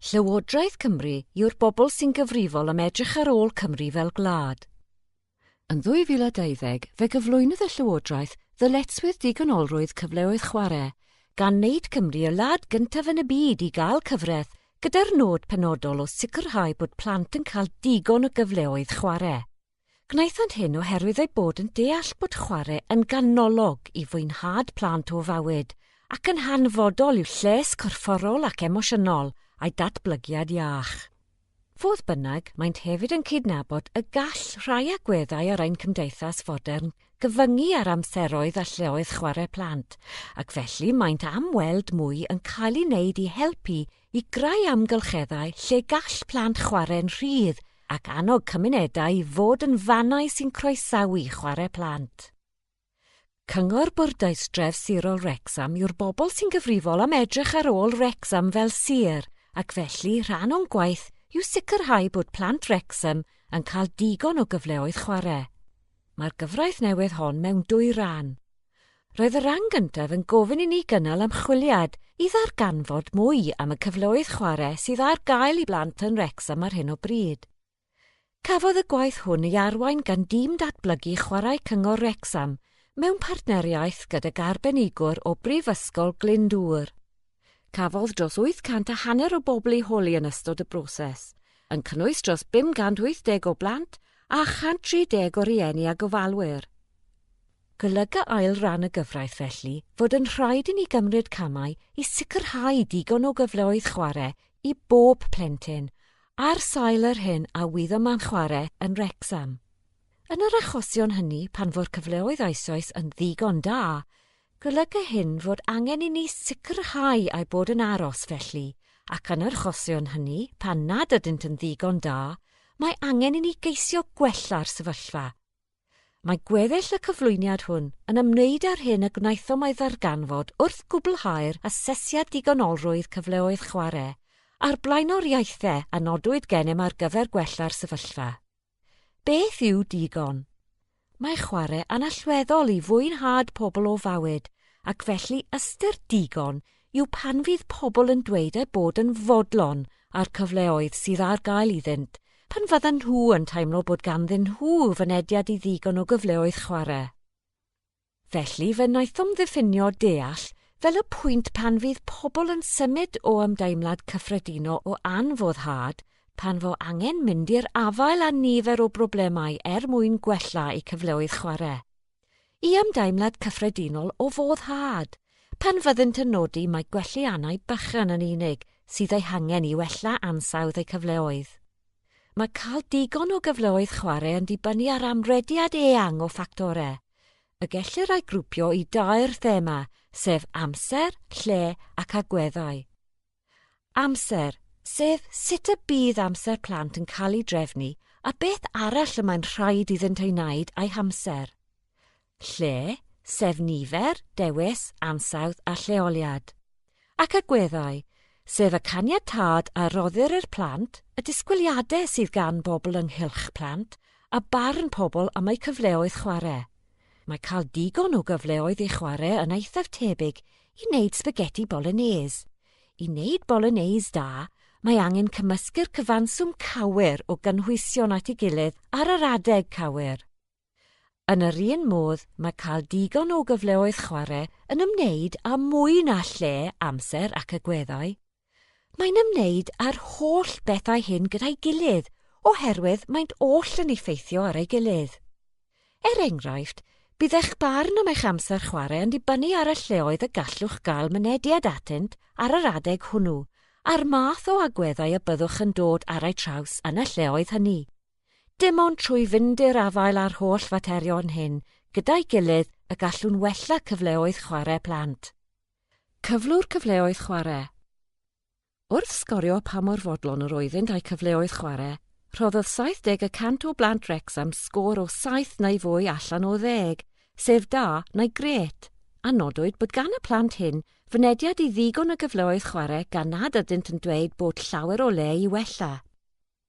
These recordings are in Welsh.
Llywodraeth Cymru yw'r bobl sy'n gyfrifol am edrych ar ôl Cymru fel gwlad. Yn 2020, fe gyflwynodd y Llywodraeth ddyletswydd digonolrwydd cyfleoedd chwarae, gan wneud Cymru y wlad gyntaf yn y byd i gael cyfraith, gyda'r nod penodol o sicrhau bod plant yn cael digon o gyfleoedd chwarae. Gwnaethant hyn oherwydd eu bod yn deall bod chwarae yn ganolog i fwynhad plant o fywyd ac yn hanfodol i'w lles corfforol ac emosiynol a'u datblygiad iach. Fodd bynnag, maent hefyd yn cydnabod y gall rhai agweddau ar ein cymdeithas fodern gyfyngu ar amseroedd a lleoedd chwarae plant, ac felly maent am weld mwy yn cael ei wneud i helpu i greu amgylcheddau lle gall plant chwarae'n rhydd ac annog cymunedau i fod yn fannau sy'n croesawu chwarae plant. Cyngor Bwrdeistref Dref Sirol Wrecsam yw'r bobl sy'n gyfrifol am edrych ar ôl Wrecsam fel sir ac felly rhan o'n gwaith yw sicrhau bod plant Wrecsam yn cael digon o gyfleoedd chwarae. Mae'r gyfraith newydd hon mewn dwy ran. Roedd y rhan gyntaf yn gofyn i ni gynnal ymchwiliad i ddarganfod mwy am y cyfleoedd chwarae sydd ar gael i blant yn Wrecsam ar hyn o bryd. Cafodd y gwaith hwn ei arwain gan Dîm Datblygu Chwarae Cyngor Wrecsam mewn partneriaeth gydag arbenigwr o Brifysgol Glyndŵr. Cafodd dros 800 a hanner o bobl eu holi yn ystod y broses, yn cynnwys dros 580 o blant a 130 o rieni a gofalwyr. Golyga ail ran y gyfraith felly fod yn rhaid i ni gymryd camau i sicrhau digon o gyfleoedd chwarae i bob plentyn, ar sail yr hyn a wyddom man chwarae yn Wrecsam. Yn yr achosion hynny pan fo'r cyfleoedd eisoes yn ddigon da, Golyga hyn fod angen i ni sicrhau eu bod yn aros felly, ac yn yr achosion hynny, pan nad ydynt yn ddigon da, mae angen i ni geisio gwella'r sefyllfa. Mae gweddill y cyflwyniad hwn yn ymwneud â'r hyn y gwnaethom ei ddarganfod wrth gwblhau'r asesiad digonolrwydd cyfleoedd chwarae a'r blaenoriaethau a nodwyd gennym ar gyfer gwella'r sefyllfa. Beth yw digon? Mae chwarae yn allweddol i fwynhad pobl o fywyd ac felly ystyr digon yw pan fydd pobl yn dweud eu bod yn fodlon â'r cyfleoedd sydd ar gael iddynt pan fyddan nhw yn teimlo bod ganddyn nhw fynediad i ddigon o gyfleoedd chwarae. Felly fe wnaethom ddiffinio deall fel y pwynt pan fydd pobl yn symud o ymdeimlad cyffredinol o anfoddhad pan fo angen mynd i'r afael â nifer o broblemau er mwyn gwella'u cyfleoedd chwarae, i ymdeimlad cyffredinol o foddhad pan fyddynt yn nodi mai gwelliannau bychan yn unig sydd eu hangen i wella ansawdd eu cyfleoedd. Mae cael digon o gyfleoedd chwarae yn dibynnu ar amrediad eang o ffactorau. y gellir ei grwpio i dair thema, sef amser, lle ac agweddau. Amser, sef sut y bydd amser plant yn cael ei drefnu a beth arall y mae'n rhaid iddynt ei wneud a'i hamser. Lle, sef nifer, dewis, ansawdd a lleoliad. ac agweddau, sef y caniatâd a roddir i'r plant, y disgwyliadau sydd gan bobl ynghylch plant, a barn pobl am eu cyfleoedd chwarae. Mae cael digon o gyfleoedd i chwarae yn eithaf tebyg i wneud sbageti bolognese. I wneud bolognese da, mae angen cymysgu'r cyfanswm cywir o gynhwysion at ei gilydd ar yr adeg cywir. Yn yr un modd, mae cael digon o gyfleoedd chwarae yn ymwneud â mwy na lle, amser ac agweddau. Mae'n ymwneud â'r holl bethau hyn gyda'i gilydd oherwydd maent oll yn effeithio ar ei gilydd. Er enghraifft, bydd eich barn am eich amser chwarae yn dibynnu ar y lleoedd y gallwch gael mynediad atynt ar yr adeg hwnnw a'r math o agweddau y byddwch yn dod ar eu traws yn y lleoedd hynny. Dim ond trwy fynd i'r afael â'r holl faterion hyn gyda'i gilydd y gallwn wella cyfleoedd chwarae plant. Cyflwr cyfleoedd chwarae Wrth sgorio pa mor fodlon yr oeddynt a'u cyfleoedd chwarae, rhoddodd 70 y cant o blant Wrecsam sgôr o saith neu fwy allan o ddeg, sef Da neu Grêt, a nodwyd bod gan y plant hyn fynediad i ddigon o gyfleoedd chwarae gan nad ydynt yn dweud bod llawer o le i wella.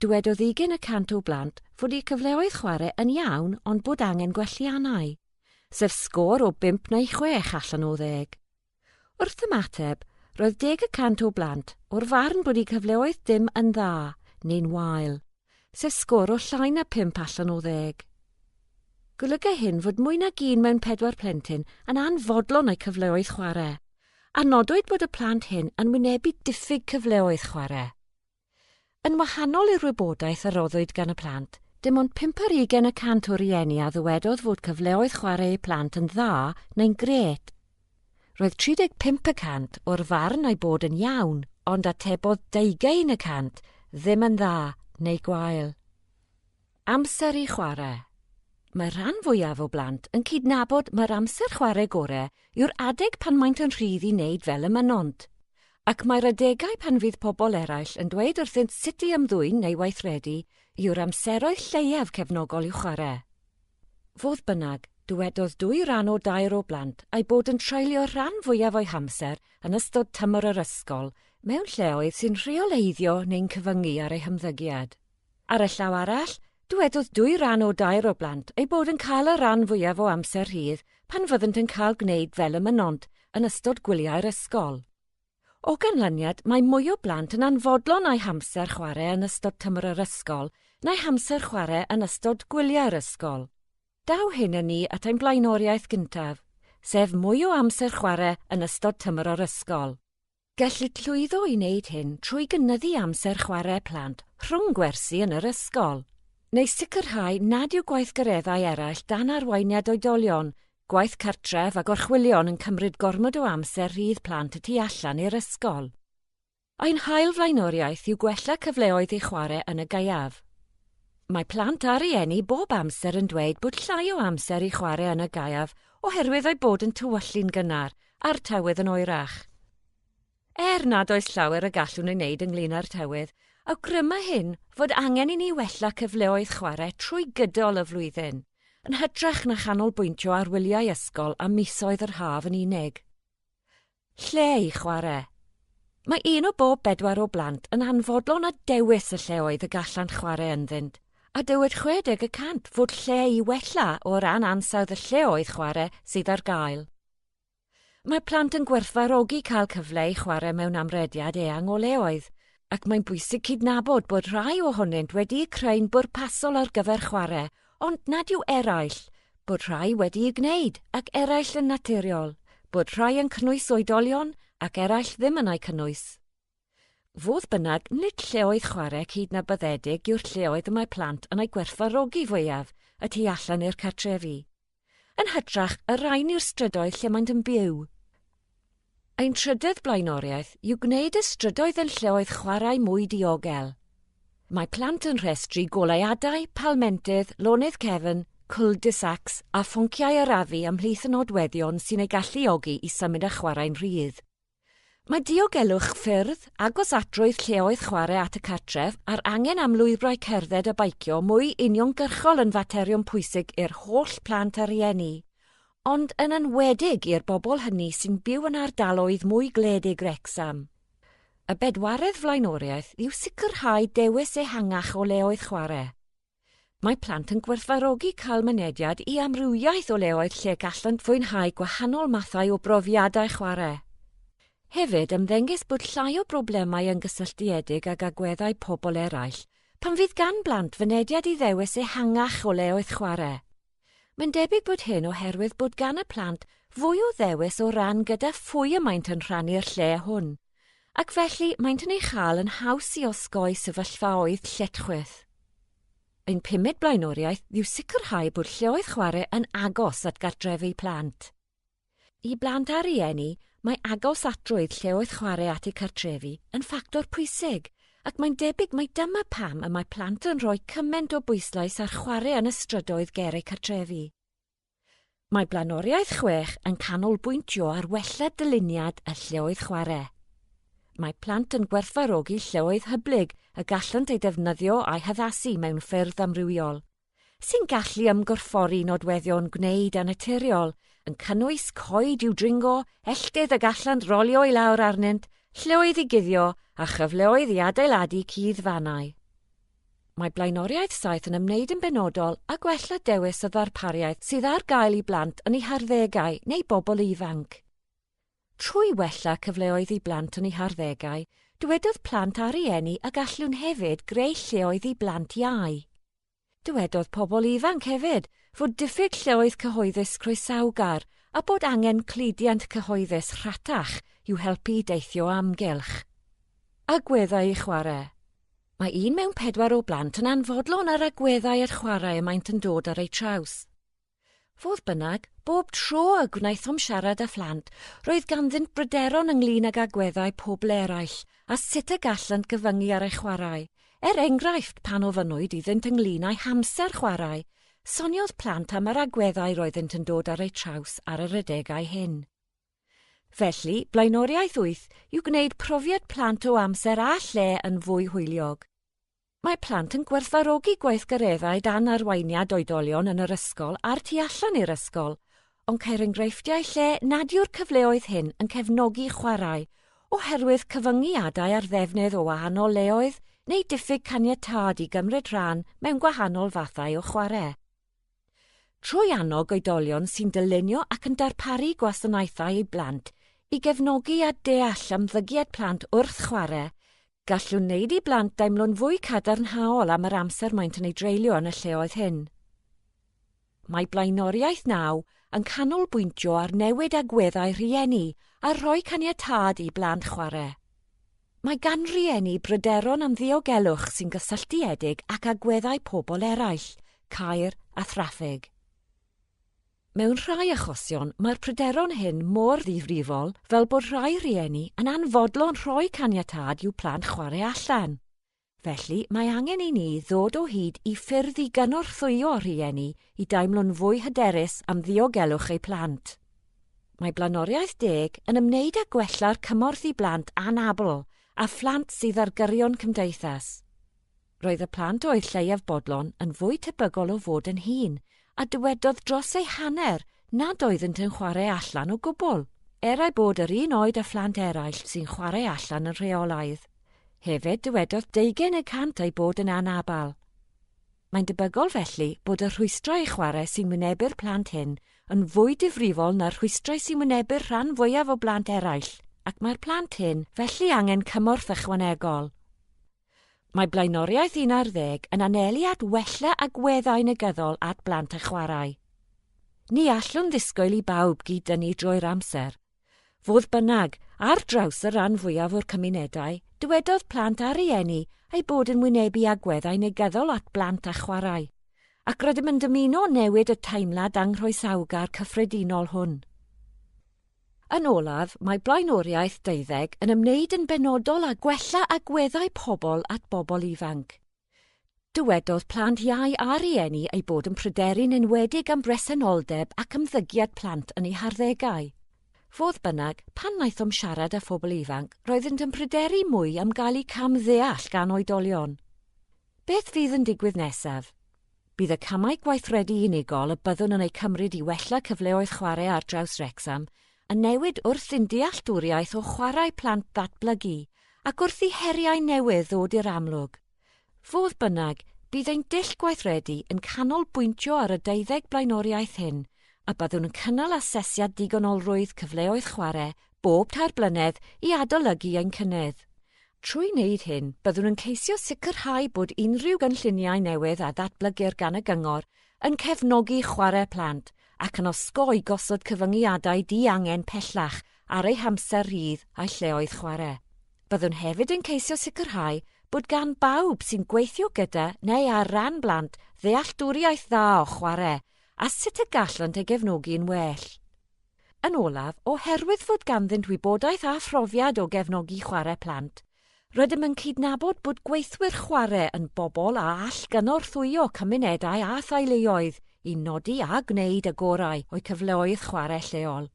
Dywedodd ugain y cant o blant fod eu cyfleoedd chwarae yn iawn ond bod angen gwelliannau, sef sgôr o bump neu chwech allan o ddeg. Wrth ymateb, roedd deg y cant o blant o'r farn bod eu cyfleoedd dim yn dda neu'n wael, sef sgôr o llai na phump allan o ddeg. Golygai hyn fod mwy nag un mewn pedwar plentyn yn anfodlon o'u cyfleoedd chwarae, a nodwyd bod y plant hyn yn wynebu diffyg cyfleoedd chwarae. Yn wahanol i'r wybodaeth a roddwyd gan y plant, dim ond pump ar ugain y cant o rieni a ddywedodd fod cyfleoedd chwarae eu plant yn dda neu'n grêt. Roedd 35 y cant o'r farn eu bod yn iawn, ond atebodd deugain y cant ddim yn dda neu gwael. Amser i chwarae. Mae'r rhan fwyaf o blant yn cydnabod mai'r amser chwarae gorau yw'r adeg pan maent yn rhydd i wneud fel y mynont. Ac mae'r adegau pan fydd pobl eraill yn dweud wrthynt sut i ymddwyn neu weithredu yw'r amseroedd lleiaf cefnogol i'w chwarae. Fodd bynnag, dywedodd dwy ran o dair o blant eu bod yn treulio'r rhan fwyaf o'u hamser yn ystod tymor yr ysgol mewn lleoedd sy'n rheoleiddio neu'n cyfyngu ar eu hymddygiad. Ar y llaw arall, dywedodd dwy ran o dair o blant eu bod yn cael y rhan fwyaf o amser rhydd pan fyddent yn cael gwneud fel y mynnont yn ystod gwyliau'r ysgol. O ganlyniad, mae mwy o blant yn anfodlon â'u hamser chwarae yn ystod tymor yr ysgol na'u hamser chwarae yn ystod gwyliau'r ysgol. Daw hyn â ni at ein blaenoriaeth gyntaf, sef mwy o amser chwarae yn ystod tymor yr ysgol. Gellid llwyddo i wneud hyn trwy gynyddu amser chwarae plant rhwng gwersi yn yr ysgol, neu sicrhau nad yw gweithgareddau eraill dan arweiniad oedolion, gwaith cartref a gorchwylion yn cymryd gormod o amser rhydd plant y tu allan i'r ysgol. Ein hail flaenoriaeth yw gwella cyfleoedd i chwarae yn y gaeaf. Mae plant a rhieni bob amser yn dweud bod llai o amser i chwarae yn y gaeaf oherwydd eu bod yn tywyllu'n gynnar a'r tywydd yn oerach. Er nad oes llawer y gallwn ei wneud ynglyn â'r tywydd, awgryma hyn fod angen i ni wella cyfleoedd chwarae trwy gydol y flwyddyn, yn hytrach na chanolbwyntio ar wyliau ysgol a misoedd yr haf yn unig. Lle i chwarae. Mae un o bob bedwar o blant yn anfodlon a dewis y lleoedd y gallant chwarae ynddynt, a dywed 60 y cant fod lle i wella o ran ansawdd y lleoedd chwarae sydd ar gael. Mae plant yn gwerthfawrogi cael cyfle i chwarae mewn amrediad eang o leoedd, ac mae'n bwysig cydnabod bod rhai ohonynt wedi'u creu'n bwrpasol ar gyfer chwarae, ond nad yw eraill, bod rhai wedi'u gwneud ac eraill yn naturiol, bod rhai yn cynnwys oedolion ac eraill ddim yn eu cynnwys. Fodd bynnag, nid lleoedd chwarae cydnabyddedig yw'r lleoedd y mae plant yn eu gwerthfawrogi fwyaf y tu allan i'r cartrefi. Yn hytrach, y rhain yw'r strydoedd lle maent yn byw. Ein trydydd blaenoriaeth yw gwneud y strydoedd yn lleoedd chwarae mwy diogel. Mae plant yn rhestru goleuadau, palmentydd, lonydd cefn, cul-de-sacs a phonciau arafu ymhlith y nodweddion sy'n eu galluogi i symud a chwarae'n rhydd. Mae diogelwch ffyrdd, agosatrwydd lleoedd chwarae at y cartref a'r angen am lwybrau cerdded a beicio mwy uniongyrchol yn faterion pwysig i'r holl plant a rhieni, ond yn enwedig i'r bobl hynny sy'n byw yn ardaloedd mwy gwledig Wrecsam. Y bedwaredd flaenoriaeth yw sicrhau dewis ehangach o leoedd chwarae. Mae plant yn gwerthfarogi cael mynediad i amrywiaeth o leoedd lle gallant fwynhau gwahanol mathau o brofiadau chwarae. Hefyd, ymddengys bod llai o broblemau yn gysylltiedig ag agweddau pobl eraill pan fydd gan blant fynediad i ddewis ehangach o leoedd chwarae. Mae'n debyg bod hyn oherwydd bod gan y plant fwy o ddewis o ran gyda phwy y maent yn rhannu'r lle hwn, ac felly maent yn ei chael yn haws i osgoi sefyllfaoedd lletchwith. Ein pumed blaenoriaeth yw sicrhau bod lleoedd chwarae yn agos at gartrefi plant. I blant a rhieni, mae agos at drwydd lleoedd chwarae at eu cartrefi yn ffactor pwysig, ac mae'n debyg mai dyma pam y mae plant yn rhoi cymaint o bwyslais ar chwarae yn y strydoedd ger eu cartrefi. Mae Blaenoriaeth Chwech yn canolbwyntio ar wella dyluniad y lleoedd chwarae. Mae plant yn gwerthfawrogi lleoedd hyblyg y gallant eu defnyddio a'u haddasu mewn ffyrdd amrywiol. sy'n gallu ymgorffori nodweddion gwneud annaturiol, yn cynnwys coed i'w dringo, elltydd y gallant rolio i lawr arnynt, llwyth i guddio a chyfleoedd i adeiladu cudd fannau. Mae blaenoriaeth saith yn ymwneud yn benodol â gwella dewis y ddarpariaeth sydd ar gael i blant yn eu harddegau neu bobl ifanc. Trwy wella cyfleoedd i blant yn eu harddegau, dywedodd plant a rieni y gallwn hefyd greu lleoedd i blant iau. Dywedodd pobl ifanc hefyd fod diffyg lleoedd cyhoeddus croesawgar a bod angen cludiant cyhoeddus rhatach i'w helpu i deithio o amgylch agweddau i chwarae. Mae un mewn pedwar o blant yn anfodlon ar agweddau at chwarae y maent yn dod ar eu traws. Fodd bynnag, bob tro y gwnaethom siarad â phlant, roedd ganddynt bryderon ynglŷn ag agweddau pobl eraill a sut y gallant gyfyngu ar eu chwarae. Er enghraifft, pan ofynnwyd iddynt ynglŷn â'u hamser chwarae, soniodd plant am yr agweddau roeddynt yn dod ar eu traws ar yr adegau hyn. Felly, blaenoriaeth wyth yw gwneud profiad plant o amser a lle yn fwy hwyliog. Mae plant yn gwerthfawrogi gweithgareddau dan arweiniad oedolion yn yr ysgol a'r tu allan i'r ysgol, ond ceir enghreifftiau lle nad yw'r cyfleoedd hyn yn cefnogi chwarae oherwydd cyfyngiadau ar ddefnydd o wahanol leoedd neu diffyg caniatâd i gymryd rhan mewn gwahanol fathau o chwarae. trwy annog oedolion sy'n dylunio ac yn darparu gwasanaethau i blant i gefnogi a deall ymddygiad plant wrth chwarae, gallwn wneud i blant deimlo'n fwy cadarnhaol am yr amser maent yn ei dreulio yn y lleoedd hyn. Mae Blaenoriaeth Naw yn canolbwyntio ar newid agweddau rhieni a rhoi caniatâd i blant chwarae. Mae gan rieni bryderon am ddiogelwch sy'n gysylltiedig ac agweddau pobl eraill, caer a thraffig. Mewn rhai achosion, mae'r pryderon hyn mor ddifrifol fel bod rhai rhieni yn anfodlon rhoi caniatâd i'w plant chwarae allan. Felly, mae angen i ni ddod o hyd i ffyrdd i gynorthwyo rhieni i deimlo'n fwy hyderus am ddiogelwch eu plant. Mae Blaenoriaeth Deg yn ymwneud â gwella'r cymorth i blant anabl a phlant sydd ar gyrion cymdeithas. Roedd y plant oedd lleiaf bodlon yn fwy tebygol o fod yn hŷn a dywedodd dros ei hanner nad oeddynt yn chwarae allan o gwbl, er eu bod yr un oed â phlant eraill sy'n chwarae allan yn rheolaidd. Hefyd dywedodd deugain y cant eu bod yn anabl. Mae'n debygol felly bod y rhwystrau i chwarae sy'n wynebu'r plant hyn yn fwy difrifol na'r rhwystrau sy'n wynebu'r rhan fwyaf o blant eraill, ac mae'r plant hyn felly angen cymorth ychwanegol. Mae blaenoriaeth un ar ddeg yn anelu at wella agweddau negyddol at blant a chwarae. Ni allwn ddisgwyl i bawb gyd-dynnu drwy'r amser. Fodd bynnag, ar draws y rhan fwyaf o'r cymunedau, dywedodd plant a rhieni eu bod yn wynebu agweddau negyddol at blant a chwarae, ac rydym yn dymuno newid y teimlad anghroesawgar cyffredinol hwn. Yn olaf, mae blaenoriaeth deuddeg yn ymwneud yn benodol â gwella agweddau pobl at bobl ifanc. Dywedodd plant iau a rhieni eu bod yn pryderu'n enwedig am bresenoldeb ac ymddygiad plant yn eu harddegau. Fodd bynnag, pan wnaethom siarad â phobl ifanc, roeddynt yn pryderu mwy am gael eu cam-ddeall gan oedolion. Beth fydd yn digwydd nesaf? Bydd y camau gweithredu unigol y byddwn yn eu cymryd i wella cyfleoedd chwarae ar draws Wrecsam yn newid wrth i'n dealltwriaeth o chwarae plant ddatblygu ac wrth i heriau newydd ddod i'r amlwg. Fodd bynnag, bydd ein dull gweithredu yn canolbwyntio ar y deuddeg blaenoriaeth hyn a byddwn yn cynnal asesiad digonolrwydd cyfleoedd chwarae bob tair blynedd i adolygu ein cynnydd. Trwy wneud hyn, byddwn yn ceisio sicrhau bod unrhyw gynlluniau newydd a ddatblygir gan y Gyngor yn cefnogi chwarae plant ac yn osgoi gosod cyfyngiadau diangen pellach ar eu hamser rhydd a'u lleoedd chwarae. Byddwn hefyd yn ceisio sicrhau bod gan bawb sy'n gweithio gyda neu ar ran blant ddealltwriaeth dda o chwarae a sut y gallant ei gefnogi yn well. Yn olaf, oherwydd fod ganddynt wybodaeth a phrofiad o gefnogi chwarae plant, rydym yn cydnabod bod gweithwyr chwarae yn bobl a all gynorthwyo cymunedau a theuluoedd i nodi a gwneud y gorau o'u cyfleoedd chwarae lleol.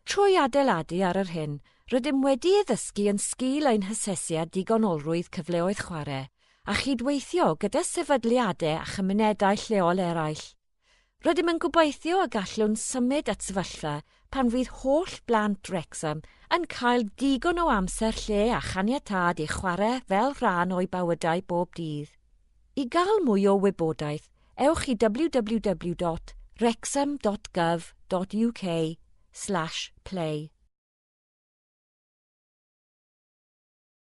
Trwy adeiladu ar yr hyn rydym wedi ei ddysgu yn sgil ein hasesiad digonolrwydd cyfleoedd chwarae, a chydweithio gyda sefydliadau a chymunedau lleol eraill, Rydym yn gobeithio y gallwn symud at sefyllfa pan fydd holl blant Wrexham yn cael digon o amser lle a chaniatâd i chwarae fel rhan o'u bywydau bob dydd. I gael mwy o wybodaeth, ewch i www.wrexham.gov.uk slash play.